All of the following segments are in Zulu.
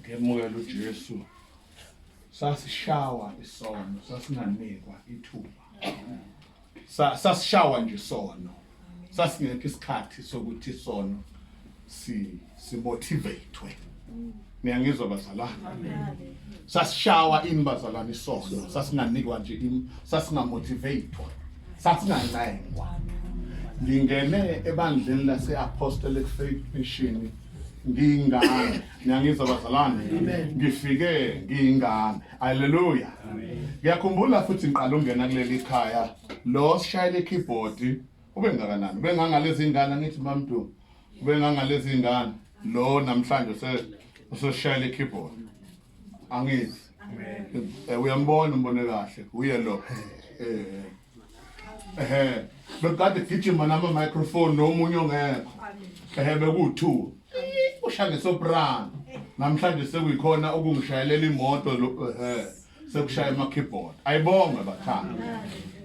Ngemukela uJesu sasishawa isono sasinganikwa ithuba sasishawa nje isono sasingekho isikhathi sokuthi isono si simotivatwe niyangizwa bazalwane sasishawa ini bazalwane isono sasinganikwa nje sasingamotivatwa sasingancengwa ngingene ebandleni lase-apostolic faith mission ngiyingane niyangizwa bazalwane ngifike ngiyingane haleluya ngiyakhumbula futhi ngiqala ungena kuleli khaya lo sishayele keyboard ubengakanani ubengangalezi ngane ngithi mamdu ubengangalezi ngane lo namhlanje se useshayele keyboard angithi eh, uyambona umbone kahle uye lo eh ehe bekade gijima nama microphone nomunye ongekho ehe bekuwu2 ushaya ngesoprano namhlanje sekuyikhona okungishayelela imoto ehe sekushaya ama keyboard ayibonge bathanda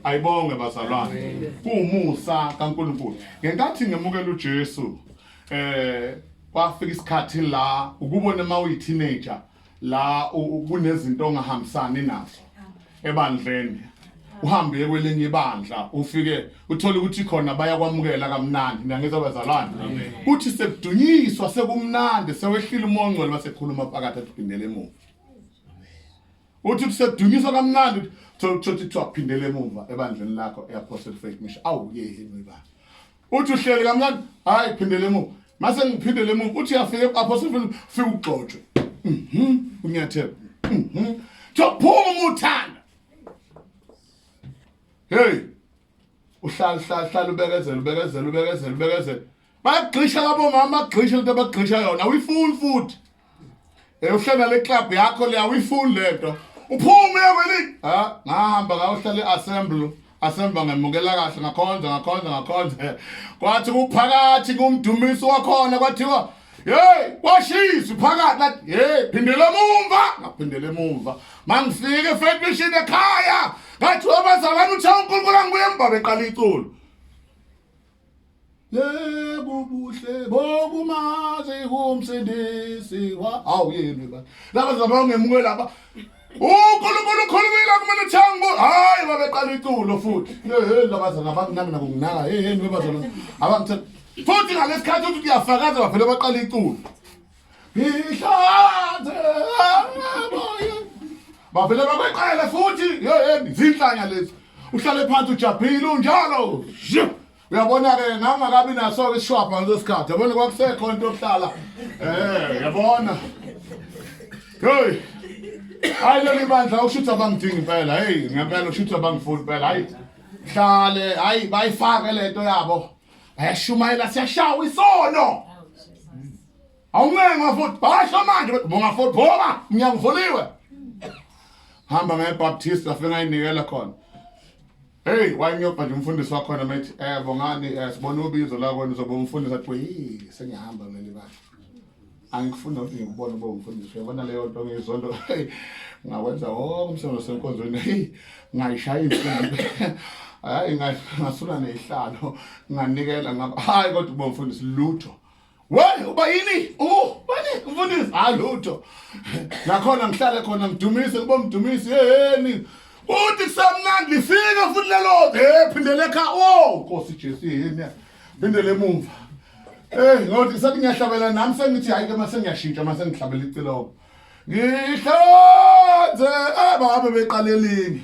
ayibonge bazalwane kuwumusa kaNkuluNkulu ngenkathi ngemukela uJesu eh kwafika isikhathi la ukubona uma uyi teenager la kunezinto ongahambisani nazo ebandleni uhambe kwelinye ibandla ufike uthole ukuthi khona bayakwamukela kamnandi ngiyangiza bazalwane kuthi sekudunyiswa sekumnandi sewehlile umongcwele basekhuluma phakathi aphindele emuva uthi kusedunyiswa kamnandi thothi thothi kuthiwa phindele emuva ebandleni lakho eyaphosela fake mission awu yeheni webandla uthi uhleli kamnandi hayi phindele emuva mase ngiphindele emuva uthi uyafika apho sifuna ufike ugxotshwe mhm unyathela mhm thophuma uthanda hey uhlala uhlala uhlala ubekezela ubekezela ubekezela ubekezela bagxisha labo mama bagxisha into abagxisha yona uyifuni futhi Uhlala le club yakho leya uyifuni lento. Uphume kweli. Ha, ngahamba ngayohlala eassembly. Asemba ngemukela kahle ngakhonza ngakhonza ngakhonza. Kwathi kuphakathi kumdumisi wakhona kwathiwa Hey, kwashisa phakathi lathi. Hey, phindela emumva, ngaphindela emumva. Mangifike efetishini ekhaya. Ngathi wabazalana uthe uNkulunkulu angibuye embabe qala iculo. yebo ubuhle bokumazi umsindisi wa awu yini ba laba zaba ungemuke laba uNkulunkulu ukhulumile kumele uthango hayi babeqala iculo futhi hey laba zana abanginami nabo nginaka hey hey bazana abangithe futhi ngalesikhathi uthi uyafakaza bavele baqala iculo Ngihlathe emoyeni. Bavele bakweqele futhi yeyeni zinhlanya lezi. Uhlale phansi ujabhile unjalo. Zhu! Uyabona ke ngangakabi naso ke ishwapha ngaleso sikhathi. Yabona kwakusekho into yokuhlala. Eh, yabona. Hey. Hayi leli bandla ushutha bangidingi impela. Hey, ngempela ushutha bangifuni impela. Hayi. Hlale, hayi bayifake lento yabo. Ayashumayela siyashawa isono. awuncengwa futhi basho manje bonga futhi bonga umnyango uvuliwe hamba ngebaptist afika ayinikela khona Hey wayengiyobha nje umfundisi wakhona methi eh bongani eh sibona ubizo lakho nizobe umfundisi athi hey sengihamba mina ba angikufuna ukuthi ngikubone ube umfundisi uyabona leyo nto ngizonto ngakwenza wonke umsebenzi senkonzweni hey ngayishaya imfundo hayi ngasula nezihlalo nganikela ngaba hayi kodwa ube umfundisi lutho Why uba yini? Oh, bani mfundisi halutho. Nakhona ngihlale khona ngidumise kubo mdumisi yeyeni. Uthi kusamnandi lifika futhi lelo eh phindele kha oh Nkosi Jesu yini. Phindele emuva. Eh ngothi sathi ngiyahlabela nami sengithi hayi ke mase ngiyashintsha mase ngihlabela iciloko. Ngihlanze ababe beqalelingi.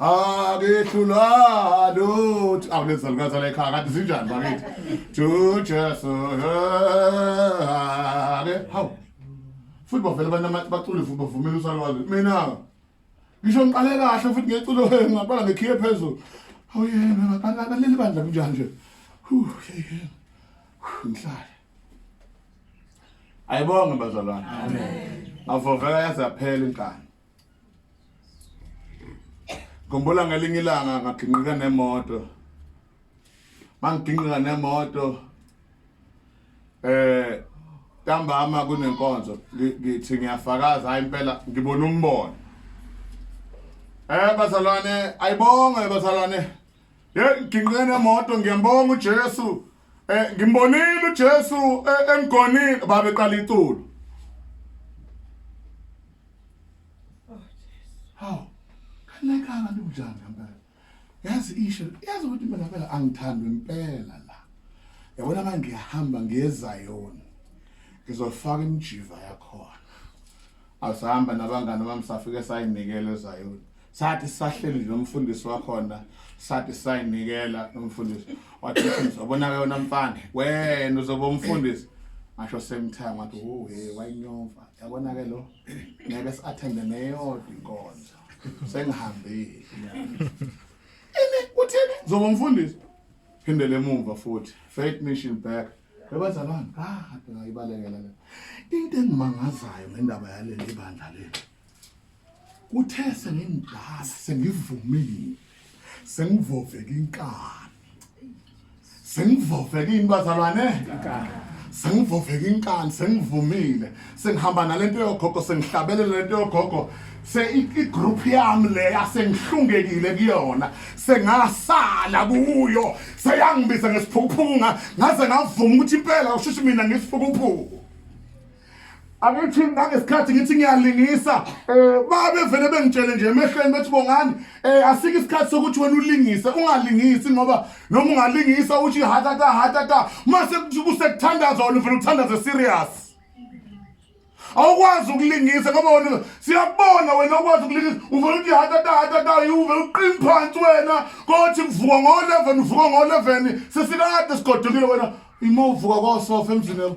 angihlulwa lutho awu lezi zalukazi la ekhaya kanti zinjani bakithi to jesu ake hawu futhi bavele abantu bacule futhi bavumela usalwazi mina ngisho ngiqale kahle futhi ngeculo ngaqala ngekhiye phezulu awu yena baleli bandla kunjani nje ngihlale ayibonge bazalwane amen avovela yazaphela inkani Ngikhumbula ngelinye ilanga ngaginqika nemoto. Mangiginqika nemoto eh ntambama kunenkonzo ngithi ngiyafakaza hayi impela ngibona umbono. Eh bazalwane ayibonge bazalwane Hey ngigingqe nemoto ngiyambonga uJesu. Eh ngimbonile uJesu eh, emgonile baba eqala iculo. Haw. Kanekanga njani ngempela. Yazi isho yazi ukuthi mina phela angithandwe impela la. Yabona manje ngiyahamba ngiyezayona. Ngizofaka imijiva yakhona. Asihamba nabangani bami safike sayinikele ezayona. sathi sahleli nomfundisi wakhona sathi sayinikela nomfundisi wathi uzobona ke wena mfana wena uzoba umfundisi ngasho same time wathi oh hey wayinyova yabona ke lo ngeke siathende neyodwa inkonzo sengihambile ini uthini zoba umfundisi phindele emuva futhi faith mission back bebazalwana ah ngayibalekela le into engimangazayo ngendaba yaleli bandla leli kuthe sengimdala sengivumile sengivoveka inkani sengivoveka ini bazalwane sengivoveka inkani sengivumile sengihamba nalento yogogo sengihlabelela lento yogogo se igroup yami leya sengihlungekile kuyona sengasala kuyo seyangibiza ngesiphukuphuku ngaze ngavuma ukuthi impela ushushu mina ngesiphukuphuku angithi ngangesikhathi ngithi ngiyalingisa um babevele bengitshele nje emehlweni bethi bongani um asike isikhathi sokuthi wena ulingise ungalingisi ngoba noma ungalingisa uthi hatata hatata mase kusekuthandaza wena uvele uthandaze serious awukwazi ukulingisa ngoba wena siyakubona wena awukwazi ukulingisa uvele uthi hatata hatata uvele uqini phansi wena kothi kuvuka ngo-eleven uvuka ngo-eleven sesikade sigodukile wena ima uvuka kosofa emzini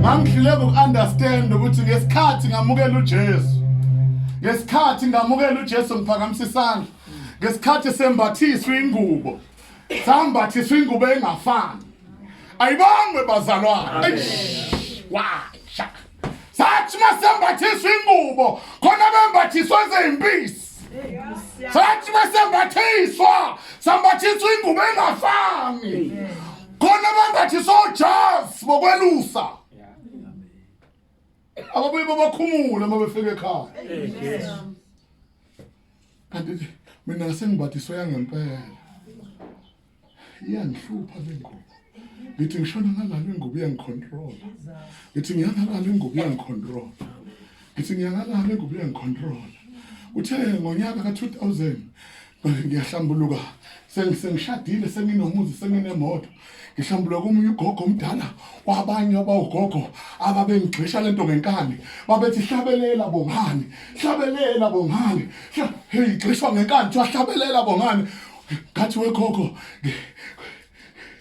Ngangihluleka uku-understand ukuthi ngesikhathi ngamukela uJesu ngesikhathi ngamukela uJesu ngiphakamisa isandla ngesikhathi sembathiswa ingubo sambathiswa ingubo engafani ayibangwe bazalwana washa sathi masembathiswa ingubo khona bembathiswa ezimpisi sathi masembathiswa sambathiswa ingubo engafani khona abangathi sojazi bokwelusa ababuye babakhumule uma befika ekhaya kanti mina sengibathiswe yangempela iyangihlupha le ngubo ngithi ngishona ngalala ingubo iyangicontrola ngithi ngiyangalala ingubo iyangicontrola ngithi ngiyakalala ingubo iyangicontrola uthe ngonyaka ka-2000 ngiyahlambuluka sengishadile senginomuzi senginemoto ngihlambuluka komunye ugogo omdala wabanye abawugogo ababengigxisha lento ngenkani babethi hlabelela bongani hlabelela bongani heyi gxishwa ngenkani kuthiwa hlabelela bongani ngathi wegogo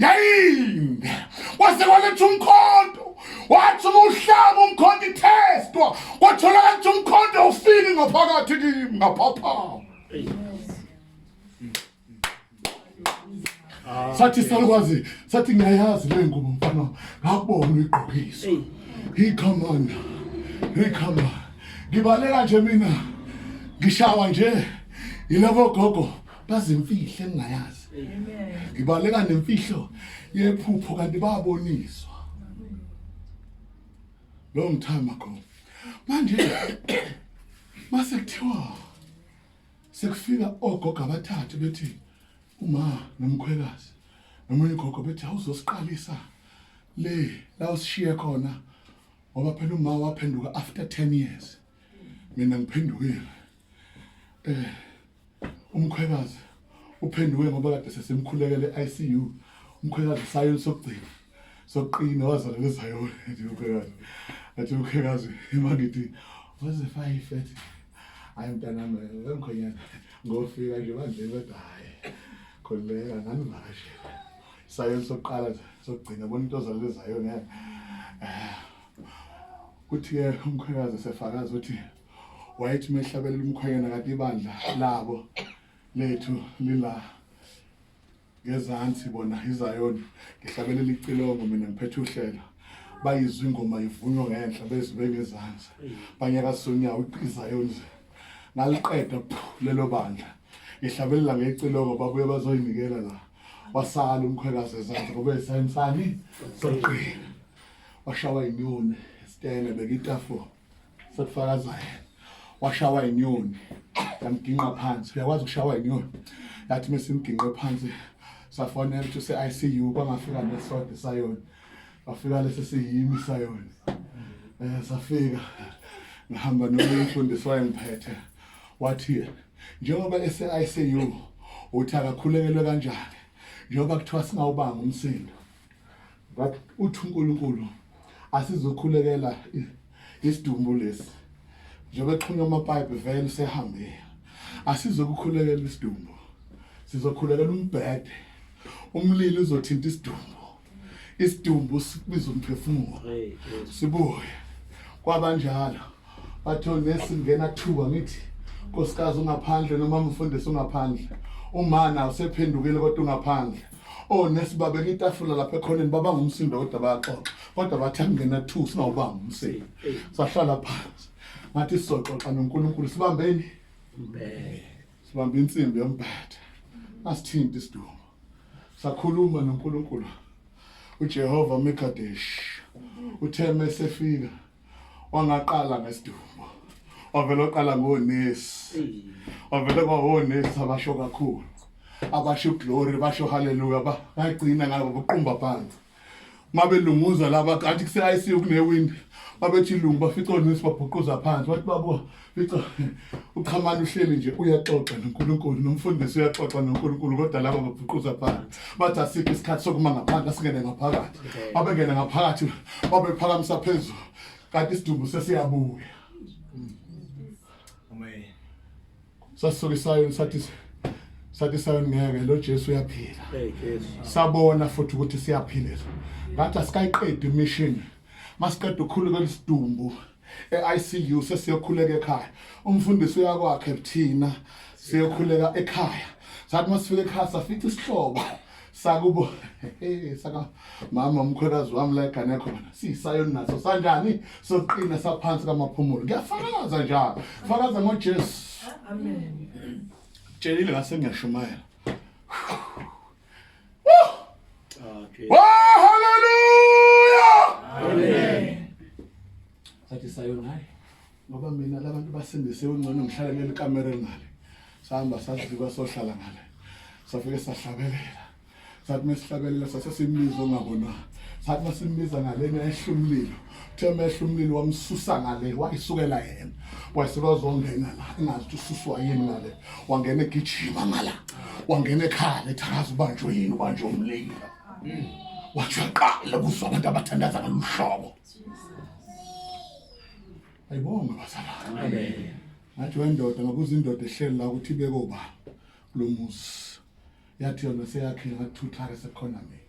yayinde wase waletha umkhonto wathi uma uhlaba umkhonto ithestwa kwatholakala ukuthi umkhonto ufiki ngaphakathi kimi ngaphaphama sathi salukwazi sathi ngiyayazi le ngubo mfana ngakubona uyigqokisa ikhomanda ikhomanda ngibalela nje mina ngishawa nje yilabo gogo bazimfihle engingayazi ngibaleka nemfihlo yephupho kanti baboniswa long time ago manje mase kuthiwa sekufika ogogo abathathu bethi uma nomkhwekazi nomunye ugogo bethi awuzosiqalisa le la usishiye khona ngoba phela uma waphenduka after 10 years mina ngiphendukile eh umkhwekazi uphenduke ngoba kade sesimkhulekele ICU umkhwekazi usayo sokugcina sokuqina wazalwa lezayona nje umkhwekazi athi umkhwekazi imangithi waze five ethi hayi mntanami wemkhonyana ngofika nje manje kodwa hayi khuleka nganivakashela sayo sokuqala sokugcina bona into ozalwa lezayona eh, kuthi-ke umkhwekazi sefakaza ukuthi wayethi uma ehlabelela umkhwenyana kade ibandla labo lethu lila ngezansi bona izayoni ngihlabelela icilongo mina ngiphethe uhlelo bayizwa ingoma ivunywa ngenhla bezwe bengezansi banyakazisa unyawo izayoni ngaliqeda lelo bandla ngihlabelela ngecilongo babuye bazoyinikela la wasala umkhwekazi ezansi ngoba esayensani soqina washawa inyoni sitene bekitafula sekufakazayo washawa inyoni yamginqa phansi uyakwazi ukushawa inyoni yathi mesimginqe phansi safonela ukuthi use-ICU kwangafika nesode sayona wafika lesi siyimi sayona um safika ngihamba nomunye umfundisi wayengiphethe wathi njengoba ese-ICU uthi akakhulekelwe kanjani njengoba kuthiwa singawubanga umsindo but uthi uNkulunkulu asizokhulekela isidumbu lesi njengoba exhunywa amapipe vele sehambe asizokukhulekela isidumbu sizokhulekela umbhede umlilo uzothinta isidumbu isidumbu sibiza umphefumulo sibuye kwabanjalo bathe unesi ngena kuthiwa ngithi nkosikazi ungaphandle noma mfundisi ungaphandle umana usephendukile kodwa ungaphandle onesi oh, babe kitafula lapha ekhoneni baba ngumsindo kodwa bayaxoxa kodwa bathi angena two singawubanga umseyi sahlala phansi ngathi sizoxoxa nonkulunkulu sibambeni sibambe insimbi yombhetha asithinti isidumbu sakhuluma nonkulunkulu ujehova mekadesh uthe mesefika wangaqala ngesidumbu wavele oqala ngonesi wavele kwawonesi abasho kakhulu abasho glory basho haleluya bagcina ngabo buqumba phansi mabelunguza laba athi kuse-icu kunewindi babethi lungu bafica onesi babhuquza phansi bathi babuka Fica uchamani uhleli nje uyaxoxa noNkulunkulu nomfundisi uyaxoxa noNkulunkulu kodwa laba babhuquza phansi bathi asikho isikhathi sokuma ngaphandle asingene ngaphakathi babengene ngaphakathi babephakamisa phezulu kanti isidumbu sesiyabuya amen sasuke isayoni sathi sathi isayoni ngeke lo Jesu uyaphila sabona futhi ukuthi siyaphila ngathi asikayiqedi imishini masiqeda ukukhuleka isidumbu e-ICU sesiyokhuleka ekhaya umfundisi uyakwakhe thina siyokhuleka ekhaya sathi masifika ekhaya safica isihlobo sakubo saka mama umkhwekazi wami la egane yakho bana sisayo naso sanjani soqina saphansi kamaphumulo ngiyafakaza njalo fakaza ngojesu amen tshelile ngase ngiyashumayela Okay. Oh, hallelujah. Amen. Sathi sayo naye. Ngoba mina labantu basindise ungcono ngihlale leli kamera ngale. Sahamba sadlika sohlala ngale. Safike sahlabelela. Sathi mesihlabelela sase simbizo ngabona. Sathi masimbiza ngale ehlumlilo. uthe mehla umlilo wamsusa ngale wayisukela yena wayeselwazongena la engazi ukuthi ususwa yini ngale wangena egijima ngala wangena ekhala ethakaza ubanjwe yini ubanjwe umlilo wajaqala kuzwa abantu abathandaza ngaluhlobo ayibonga bazalwane ngathi wendoda ngabuza indoda ehleli la ukuthi ibeke ubaba kulo muzi yathi yona seyakhile ngakuthutha ke sekhona mina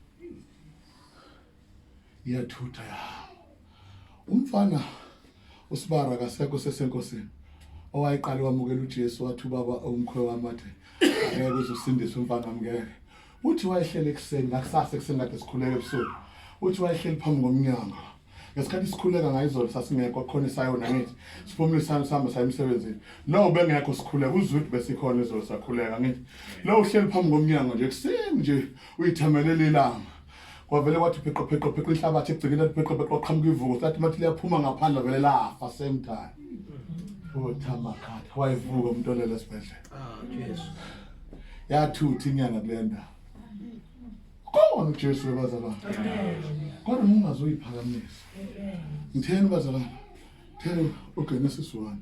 iyathutha yahamba umfana usibara kasekho sesenkosini owayeqale wamukela uJesu wathi ubaba umkhwe wami athe ngeke uzosindisa umfana wami ngeke uthi wayehlele ekuseni ngakusasa ekuseni kade sikhuleke ebusuku uthi wayehleli phambi komnyango ngesikhathi sikhuleka ngayizolo sasingekho khona isayona ngithi siphumile isayona sihamba saya emsebenzini no bengekho sikhuleka uzwe ukuthi besikhona izolo sakhuleka ngithi lo uhleli phambi komnyango nje ekuseni nje uyithamelele ilanga kwavele kwathi pheqopheqopheqo inhlabathi egcekeni pheqopheqo kwaqhamuka ivuko sathi mathi liyaphuma ngaphandle vele lafa same time othamakhatha wayevuka umuntu olele esibhedlela yathuthi inyanga kule ndawo khona ujesu webazalwane kodwa mungazoyiphakamisa ngitheni bazalwane thela ugenesis one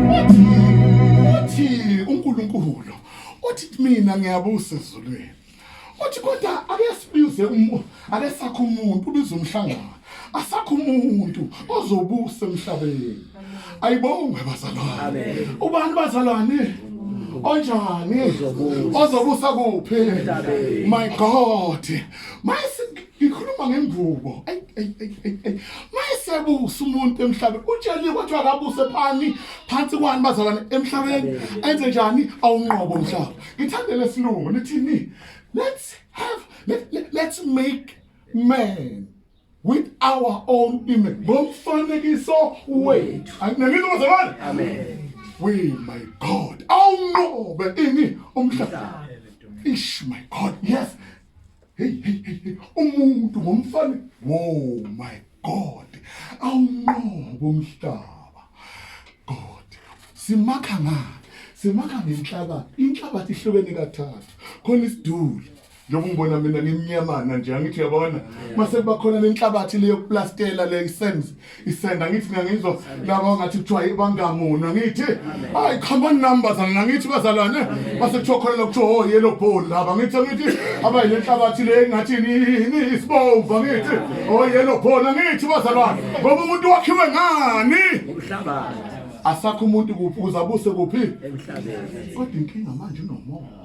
uthi uNkulunkulu uthi mina ngiyabusa ezulwini uthi kodwa ake sibize umuntu ake sakho umuntu ubize umhlangano asakho umuntu ozobusa emhlabeni ayibongwe bazalwane ubani bazalwane onjani ozobusa kuphi my god mayisi ngikhuluma ngengubo ayi ayi ayi ayi ayi mayesebusa umuntu emhlabeni utsheliwe ukuthi akabuse phani phansi kwani bazalwane emhlabeni enze njani awunqobo umhlaba ngithande lesilungu nithini let's have let, let, let's make man with our own image ngomfanekiso wethu anginelile bazalwane amen we my god awunqobe ini umhlaba ish my god yes Hey, hey, hey, umuntu ngomfana. Oh my God. Awunqobo umhlaba. God. Simakha ngani? Simakha ngenhlabathi. Inhlabathi ihlukene kathathu. Khona isiduli. njengoba ngibona mina ngimnyamana nje angithi yabona mase kuba khona nenhlabathi leyokuplastela le isenzi isenda ngithi mina ngizwa laba ngathi kuthiwa ibangamona ngithi hayi come on numbers angithi bazalwane base kuthiwa khona lokuthiwa oh yellow ball laba ngithi ngithi abayile nhlabathi le ngathi yini isibomvu ngithi oh yellow ball ngithi bazalwane ngoba umuntu wakhiwe ngani umhlabathi asakho umuntu kuphi uzabuse kuphi emhlabeni kodwa inkinga manje unomoya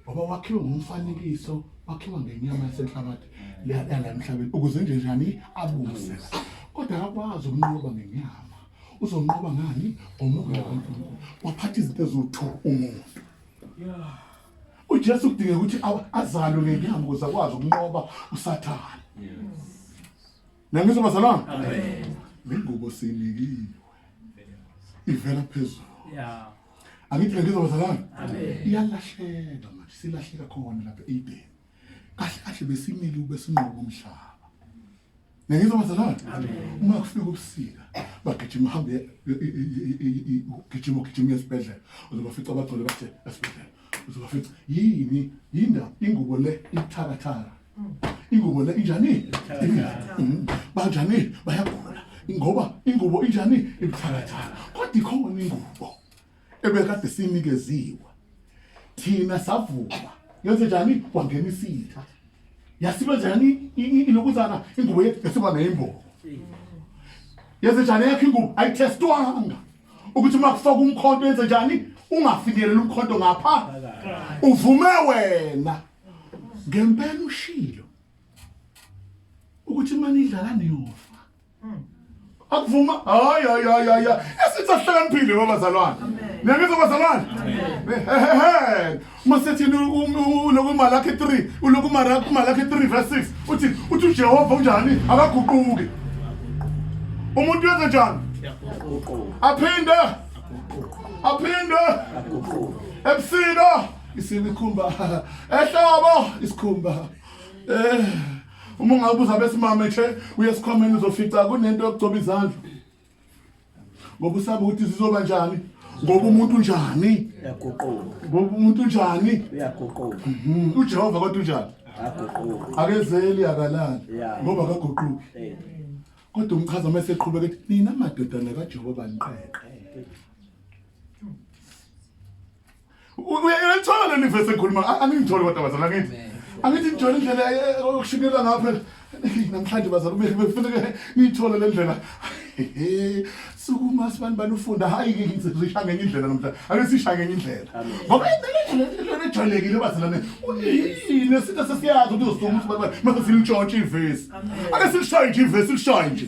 ngoba wakhiwe ngomfanekiso wakhiwa ngenyama yasenhlabathi leyala emhlabeni ukuze nje njani abuse kodwa akakwazi ukunqoba ngenyama uzonqoba ngani ngomoya kankulunkulu waphatha izinto eziwu-two umuntu ujesu kudingeka ukuthi azalwe ngenyama ukuze akwazi ukunqoba usathane nangizo bazalwana le ngubo siyinikiwe ivela phezulu angithi ke ngizwa bazalwane iyalahleka manje silahleka khona lapha eEden kahle kahle besimile ube sinqoba umhlaba Ngiyizwa bazalwane uma kufika ubusika bagijima uhambe ugijima ugijima esibhedlela uzobafica abagcwele bathe esibhedlela uzobafica yini yinda ingubo le ithakathaka ingubo le injani mm. banjani bayagula ngoba ingubo injani ibuthakathaka kodwa ikhona ingubo ebekade sinikeziwe thina savuka yenze njani kwangena isitha yasiba njani ilokuzana ingubo yesiba neyimbobo yenze njani yakhe ingubo ayithestwanga ukuthi uma kufaka umkhonto yenze njani ungafinyeleli umkhonto ngapha uvume wena ngempela ushilo ukuthi manje idlala niyofa akuvuma hayi hayi hayi hayi esithi ahlakaniphile babazalwane niyangizwa bazalwane hehehe masethi ulokumali akhe 3 ulokumali akhe 3 verse 6 uthi uthi ujehova unjani akaguquki umuntu wenze njani aphinde aphinde ebusika isikhumba ehlobo isikhumba eh uma ungabuza besimame nje uyesikhomeni uzofica kunento yokugcoba izandla ngoba usaba ukuthi zizoba njani ngoba umuntu unjani uyaguquka ngoba umuntu unjani uyaguquka mhm. ujehova kodwa unjani aguquka akezeli akalali ngoba akaguquki eh. kodwa umchaza uma eseqhubeka ethi nina madodana kajehova niqeqe uyayithola leli vese ekhuluma angingithole kodwa bazala ngithi angithi ngijole indlela eh, eh, okushikelwa ngapha namhlanje bazala befuna ngiyithole le ndlela sukuma sibantu banufunda hayi-ke ngisisha ngenye indlela namhlanje ake sisha ngenye indlela ngoba indlela ejwayelekile bazalane yini esinto sesiyazi ukuthi uzosukuma ukuthi bantu mase silintshontshe ivesi ake silishaye nje ivesi silishaye nje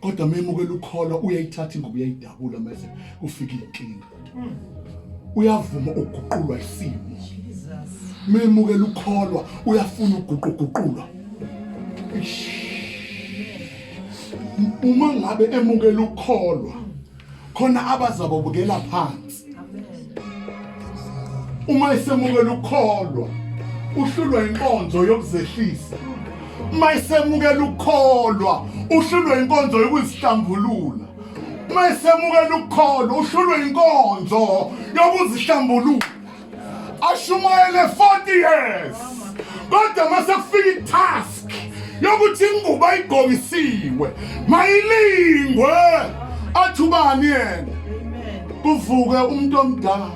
kodwa memukela ukholwa uyayithatha ingubo uyayidabula mase kufika inkinga uyavuma ukuguqulwa isimo memukela ukholwa uyafuna ukuguquguqulwa uma ngabe emukela ukholwa khona abazabobukela phansi uma isemukela ukukholwa uhlulwa inkonzo yokuzehlisa uma isemukela ukukholwa uhlulwa inkonzo yokuzihlambulula uma isemukela ukukholwa uhlulwa inkonzo yokuzihlambulula ashumayele 40 years kodwa uma sekufika itask yokuthi ingubo ayigqokisiwe mayilingwe athubani yena kuvuke umuntu omdala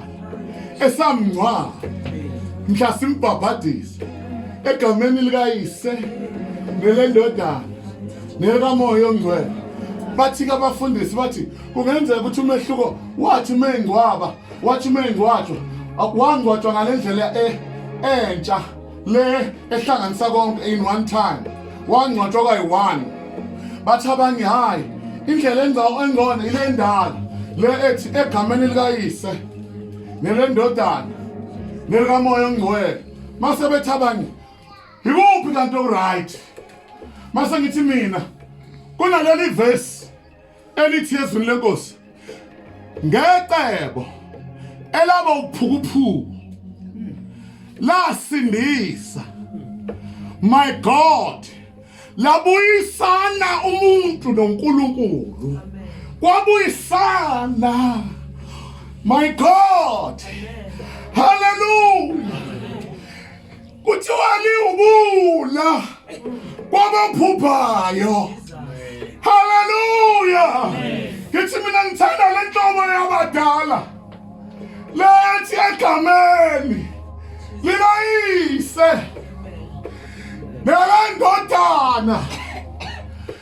esamngcwaba mhla simbhabhadise egameni likayise nelendodana nelikamoya ongcwele bathi-ke abafundisi bathi kungenzeka ukuthi umehluko wathi uma engcwaba wathi uma engcwatshwa wangcwatshwa ngale ndlela e, entsha le ehlanganisa konke in one time wangcwatshwa kwayi-one bathi abanye hhayi indlela engcono ile ndala le ethi egameni likayise nelendodana nelikamoya ongcwele mase bethi abanye yikuphi kanti oku-right mase ngithi mina kunaleli vesi elithi ezwini lenkosi ngecebo elaba uphukuphuku lasindisa my god labuyisana umuntu noNkulunkulu kwabuyisana my god hallelujah kuthiwani ubula kwabaphuphayo haleluya ngithi mina ngithanda le ntobo yabadala lethi egameni likayise nelendodana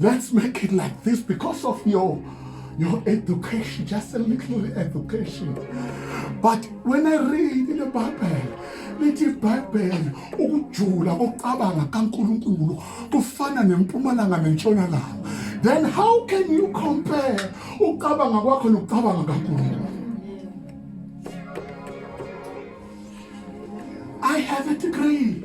Let's make it like this because of your your education, just a little education. But when I read in the Bible, lithi ibhayibheli ukujula kokucabanga kankulunkulu kufana nempumalanga nentshonalanga then how can you compare ukucabanga kwakho nokucabanga kankulunkulu i have a degree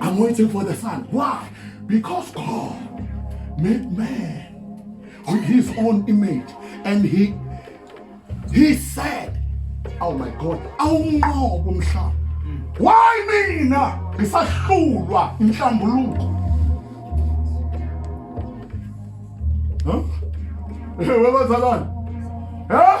I'm waiting for the sun. Why? Because God made man with his own image and he he said, "Oh my God, awunqobo umhlaba." Why mina ngisahlulwa inhlambuluko? Huh? Wewe bazalwane. Huh?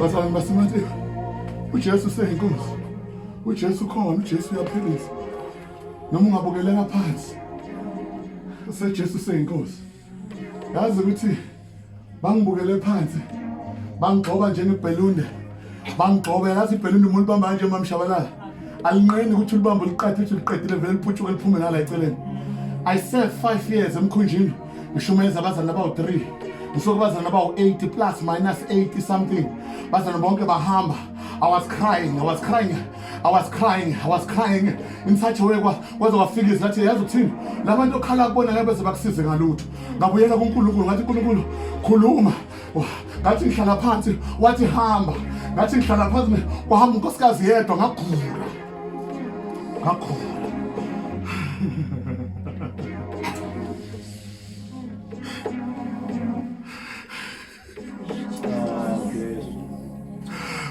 bazalwane basemateka ujesu useyinkunzi ujesu ukhona ujesu uyaphilisa noma ungabukeleka phansi usejesu useyinkosi yazi ukuthi bangibukele phansi bangigxoba njengebhelunde bangigxobe yazi ibhelunde umuntu bamba kanje mamshabalala alinqeni ukuthi ulibambe uliqathe ukuthi uliqedile vele liputshuke liphume nala eceleni i serve five years emkhunjini ngishumeza abazalwane abawu-3 ngisuke abazalwane abawu-8 plus minus 80 something bazalwane bonke bahamba I was crying, I was crying, I was crying, I was crying in such a way kwaze kwafika izwi lathi yazi ukuthini la bantu okhala kubona ngabe beze bakusize ngalutho ngabuyela kuNkulunkulu ngathi uNkulunkulu khuluma ngathi ngihlala phansi wathi hamba ngathi ngihlala phansi kwahamba unkosikazi yedwa ngagula Ngakho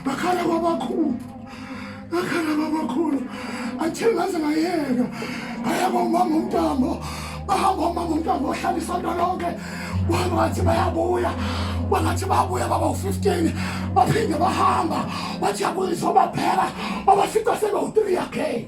bakhala kwabakhulu bakhala kwabakhulu athe ngaze ngayeka ngayaba umama umntamba bahamba umama umntwana wahlala isonto lonke wangathi bayabuya bangathi babuya baba u-15 baphinde bahamba bathi yabuyiswa baphela babafica sebewu-3 yakhe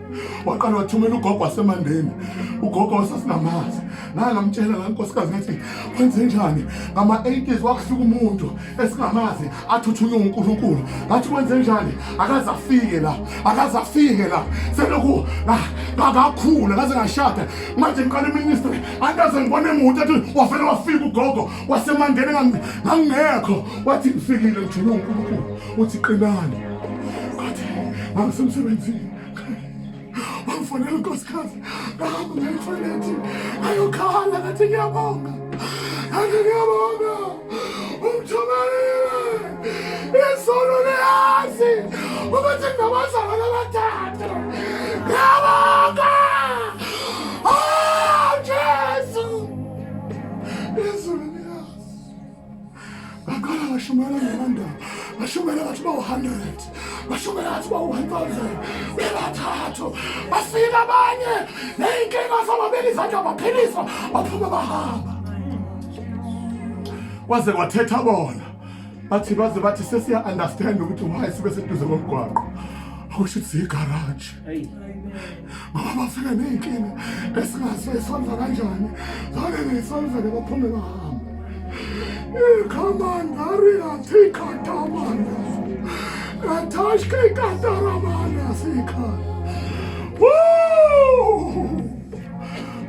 waqala wathumela ugogo wasemandeni ugogo wasesinamazi ngake ngamtshela la nkosikazi ngathi kwenze njani ngama-80s wakusuka umuntu esingamazi athuthunywe unkulunkulu ngathi kwenze njani akaze afike la akaze afike la selokhu ngakakhula kaze ngashada manje ngiqala iministry andaze ngibona emuntu athi wafele wafika ugogo wasemandeni ngangingekho wathi ngifikile ngithunye unkulunkulu uthi qinani ngathi ngangisemsebenzini wangifonela unkosikazi ngahamba ngetoilethi ayokhala ngathi ngiyabonga ngathi ngiyabonga umthumelile izulu liyazi ukuthi ngabazalwana abathathu ngiyabonga ngaqala ngashumayela ngenanda ngashumayela ngathi bawu-hundred ngashumayela ngathi bawu-one thousand bebathathu bafika abanye ney'nkinga zababeka izandla baphiliswa baphuma bahamba kwaze kwathetha bona bathi baze bathi sesiya-understand ukuthi why sibe seduze komgwaqo akusho ukuthi ziyigaraji ngoba bafike ney'nkinga esingazi esolva kanjani zane ney'solvele baphume bahambe Kamandari Rati Katamanda. Ratashke Kataramanda Sika.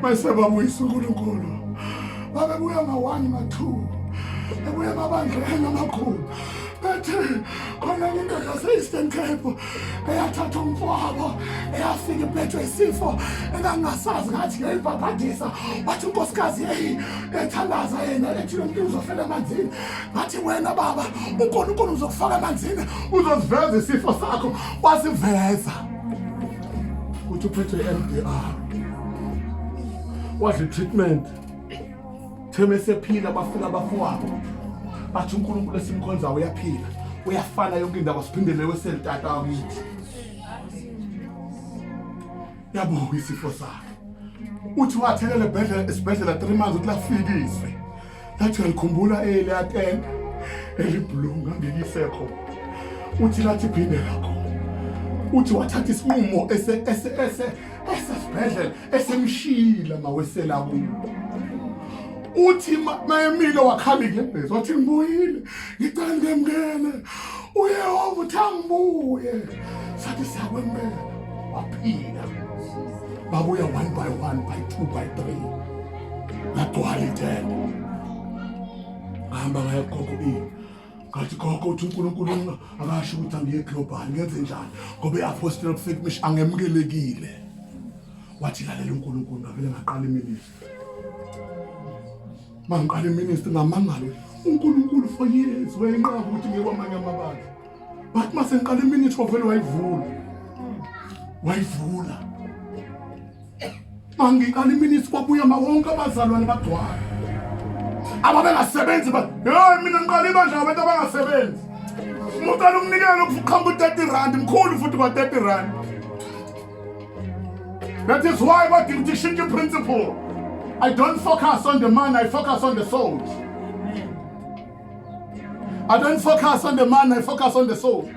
Mese babuyisa uNkulunkulu. Babebuya ngawani mathuba. Bebuya babandleni amakhulu. Bethe khona indoda se-Eastern Cape eyathatha umfowabo eyafika iphethwe isifo engangingasazi ngathi ngeyibhabhadisa wathi unkosikazi yeyi ethandaza yena ethi lo muntu uzofela emanzini ngathi wena baba unkulunkulu uzokufaka emanzini uzosiveza isifo sakho wasiveza ukuthi uphethwe i-m d r wadla i-treatment Theme sephila bafika bafowabo bathi uNkulunkulu esimkhonza uyaphila uyafana yonke indaba siphindele weseli tata wakithi yabonga isifo sakhe uthi wathelele ebhedlela esibhedlela 3 months uthi lafikiswe lathi ngikhumbula ele atene elibhlunga ngiyisekho uthi lathi phindela khona uthi wathatha isinqumo ese ese ese esesibhedlela esemshiyile mawesela kubo uthi mayemile wakhala inyembezi wathi ngibuyile ngicela ngemngene uyehova uthi angibuye sathi siyakwemukela waphila babuya one by one by two by three lagcwala itende ngahamba ngayogogo ini ngathi gogo uthi unkulunkulu akasho ukuthi angiye global ngenze njani ngoba i-apostela prophetic mission angemukelekile wathi lalela unkulunkulu ngavele ngaqala iministry mangiqala iministry ngamangalo unkulunkulu for years wayenqaba ukuthi ngiye kwamanye amabandla but masengiqala iministry wavele wayivula wayivula Mangiqala iminisi kwabuya mawonke abazalwane bagcwala ababengasebenzi hey mina ngiqala ibandla ngabantu abangasebenzi umuntu alumnikele ukuqhamba u-thirty rand mkhulu futhi kwa-thirty rand that is why badinga ukuthi ishintshe i-principle i don't focus on the man i focus on the souls I don't focus on the man, I focus on the soul.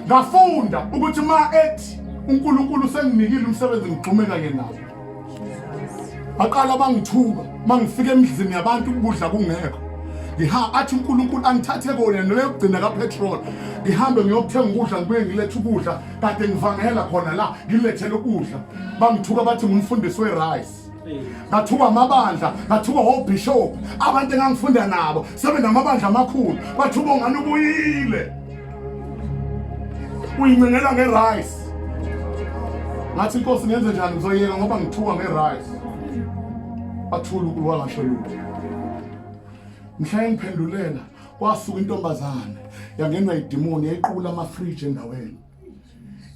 Ngafunda ukuthi ma ethi uNkulunkulu senginikile umsebenzi ngigxume kanye nawo. Baqala bangithuka mangifika emizini yabantu ukudla kungekho. Ngiha athi uNkulunkulu angithathe kona neyokugcina kapetrol. Ngihambe ngiyokuthenga ukudla ngibuye ngilethe ukudla kade ngivangela khona la ngilethele ukudla. Bangithuka bathi ngumfundisi werice. ngathuka amabandla ngathuka wobishop abantu engangifunda nabo sebenamabandla amakhulu bathuka ongani ubuyile uyincengelwa ngerice ngathi inkosi ngenze njani ngizoyeka ngoba ngithuka ngerice bathula ukulu wangasho lutho mhla engiphendulela kwasuka intombazane yangenwa idimoni yayiqula amafriji endaweni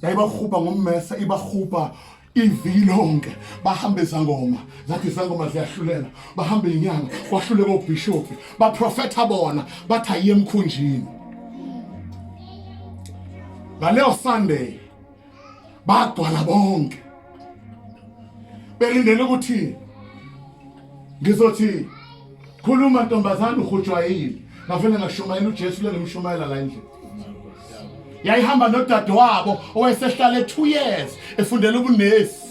yayibahuba ngommesa ibahuba iviki lonke bahambe izangoma zathi izangoma ziyahlulela bahambe inyanga kwahluleka obishophi baprofetha bona bathi ayiye emkhunjini ngaleyo sunday bagcwala bonke belindele ukuthi ngizothi khuluma ntombazane uhujwayile ngavele ngashumayela ujesu lengimshumayela la endlini yayihamba nodadewabo owayesehlala e-two years efundela ubunesi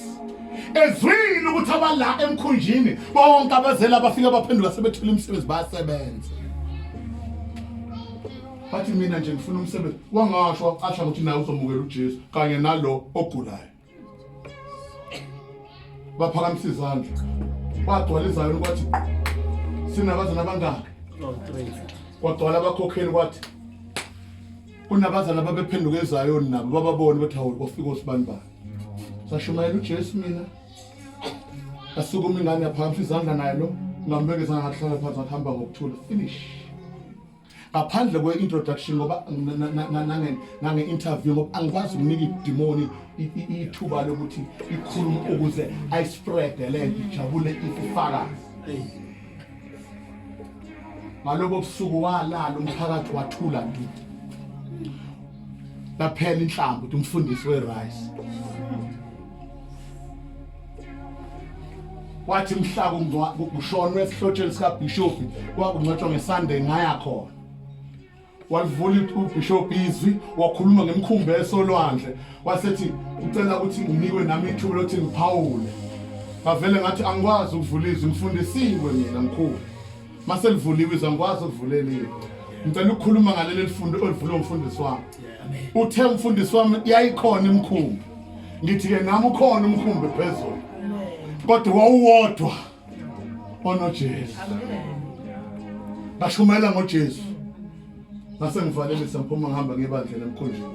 ezwile ukuthi abala emkhunjini bonke abazela abafike baphendula sebethula imisebenzi bayasebenza bathi mina nje ngifuna umsebenzi wangasho asha ukuthi naye uzomukela ujesu kanye nalo ogulayo baphakamisa izandla bagcwala izayoni kwathi sinabazana abangaki kwagcwala abakhokheli kwathi kunabazana babephenduka ezayoni nabo bababone bathi hawu kwafika osibani bani sashumayela ujesu mina asukuma ingane yaphakamisa izandla naye lo ngambeke zangahlala phansi akuhamba ngokuthula finish ngaphandle kwe-introduction ngoba nange-interview ngoba angikwazi ukunika idimoni ithuba lokuthi ikhulume ukuze ayisprede le nto ijabule ifufakazi ngalobo busuku walala umphakathi wathula nto laphela inhlamba ukuthi umfundisi we-rice wathi mhla kushonwe esihlotsheni sikabhishobhi kwakungcwatshwa ngesunday ngaya khona walivula ubhishobhi izwi wakhuluma ngemkhumbi esolwandle wasethi ucela ukuthi nginikwe nami ithuba lokuthi ngiphawule ngavele ngathi angikwazi ukuvula izwi ngifundisiwe mina mkhulu mase livuliwe izwa ngikwazi ukuvulelile ngicela ukukhuluma ngaleli lifundo olivule umfundisi wami uthe umfundisi wami yayikhona imkhumbi ngithi-ke nami ukhona umkhumbi phezulu kodwa wawuwodwa onojesu ngashumayela ngojesu ngase ngivalelisa ngiphuma ngihamba ngebandlela emkhunjini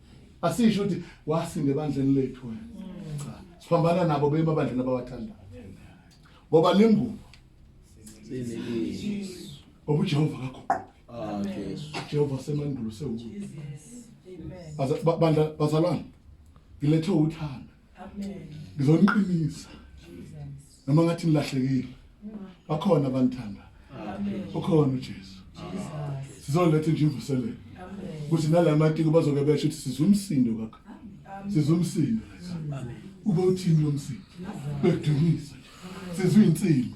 asisho ukuthi wasinda ebandleni lethu wena cha siphambana nabo bema bandleni abawathanda ngoba lingubo ngoba ujehova kaguquki jehova semandulo sewuku bandla bazalwane ngilethe uthando ngizoniqinisa noma ngathi nilahlekile bakhona abanithanda ukhona uJesu sizoletha nje imvuselelo ukuthi nalamatiko bazoke besho ukuthi sizumsindo kakho sizumsindo ube uthini lomsindo bedumisa sizwe insimbi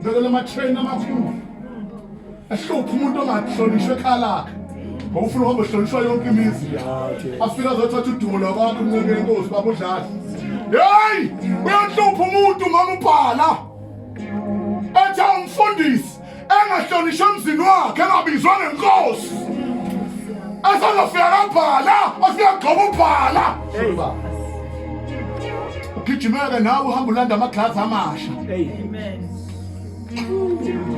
Ngicela lama train amakhulu. Ahlupha umuntu ongahlonishwe ekhalakhe. Ngokufuna uhamba hlonishwa yonke imizi. Afika azothatha udumo lwabantu umnceke inkosi babudlala. Hey! Uyahlupha umuntu mama ubhala. Ethe umfundisi engahlonishwe emzini wakhe engabizwa ngenkosi. Asazofika kabhala, afika gcoba ubhala. Hey baba. ugijimeke nawe uhamba ulanda amaglazi amasha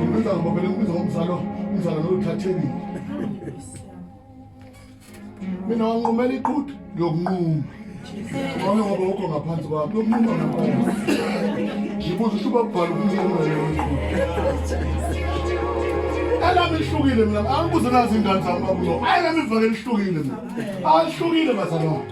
ubiza ngobabele ubiza ngomzalo umzalo lo uthathekile mina wanqumela iqhudu ngiyokunquma wami ngoba ukho ngaphansi kwami yokunquma ngaphansi ngibuza ukuthi ubabhala ukunquma elami lihlukile mina angibuze nazi ingane zami babulo ayi lami ivakele lihlukile mina alihlukile bazalwane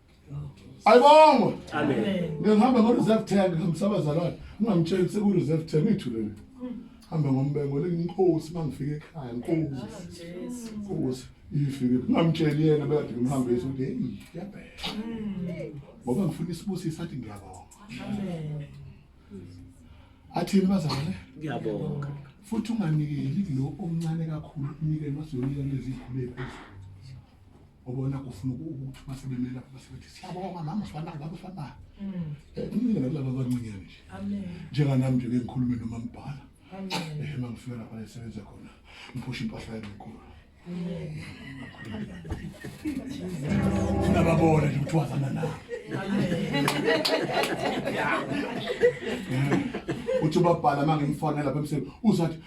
ayibongwe ngihamba ngo-reserve tank ngihambisa abazalwane ungamtsheli seku-reserve tank ithulele hamba ngombengo lenginkosi uma ngifike ekhaya nkosi nkosi ifike ungamtsheli yena bekade ngimhambisa ukuthi heyi yabhela ngoba ngifuna isibusisa athi ngiyabonga athini bazalwane ngiyabonga futhi unganikeli lo omncane kakhulu unikele wasiyonike lezi phezulu ubona ufuna ukuthi uma sebemela uma sebethi siyabonga mama sifanaka baba sifanaka mm. eh, umile nakulaba abancinyane nje njenganami nje ke ngikhulume noma mbhala eh, uma ngifika lapha esebenza khona ngiphusha impahla yami enkulu sinababona nje ukuthi wazana na uthi ubabhala uma ngimfonela lapha emsebenzini uzathi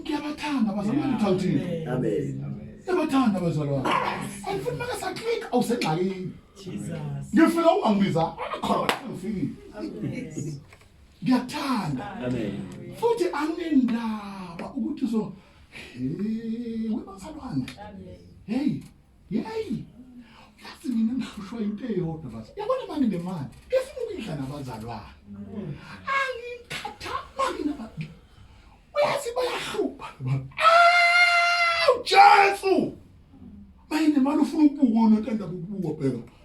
ngiyabathanda bazalwane ngithawuthini amen ngiyabathanda bazalwane angifuni maka saklika awusengxakini ngifika ungangibiza akhona ngifikile ngiyathanda amen futhi anginendaba ukuthi so hey webazalwane hey yeyi yazi mina ngihlushwa into eyodwa bazi yabona mani le mali ngifuna ukuyidla nabazalwane angikhathali naba uyazi bayahlupha awu jesu mayine mali ufuna ukubukwa unotanda bukubukwa bheka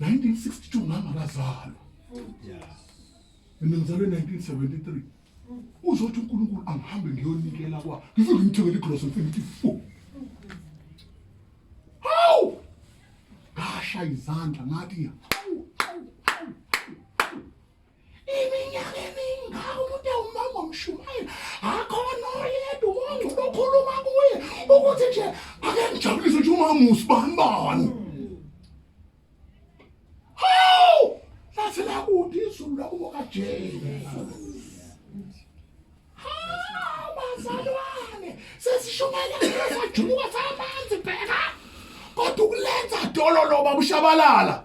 1962 mama kazalwa mina ngizalwe 1973 uzothi uNkulunkulu angihambe ngiyonikela kwa ngifike ngimthengele igross ngithi fu hawu ngasha izandla ngathi hawu iminyaka emingaka umuntu ewumama omshumayeli akhona oyedwa umongcwele okhuluma kuye ukuthi nje ake ngijabulise ukuthi umama usibani bani hawu lathi lakude izulu lakubo kajesu hawu bazalwane sesishumayela sesajuluka samanzi bheka kodwa ukulenza dololo babushabalala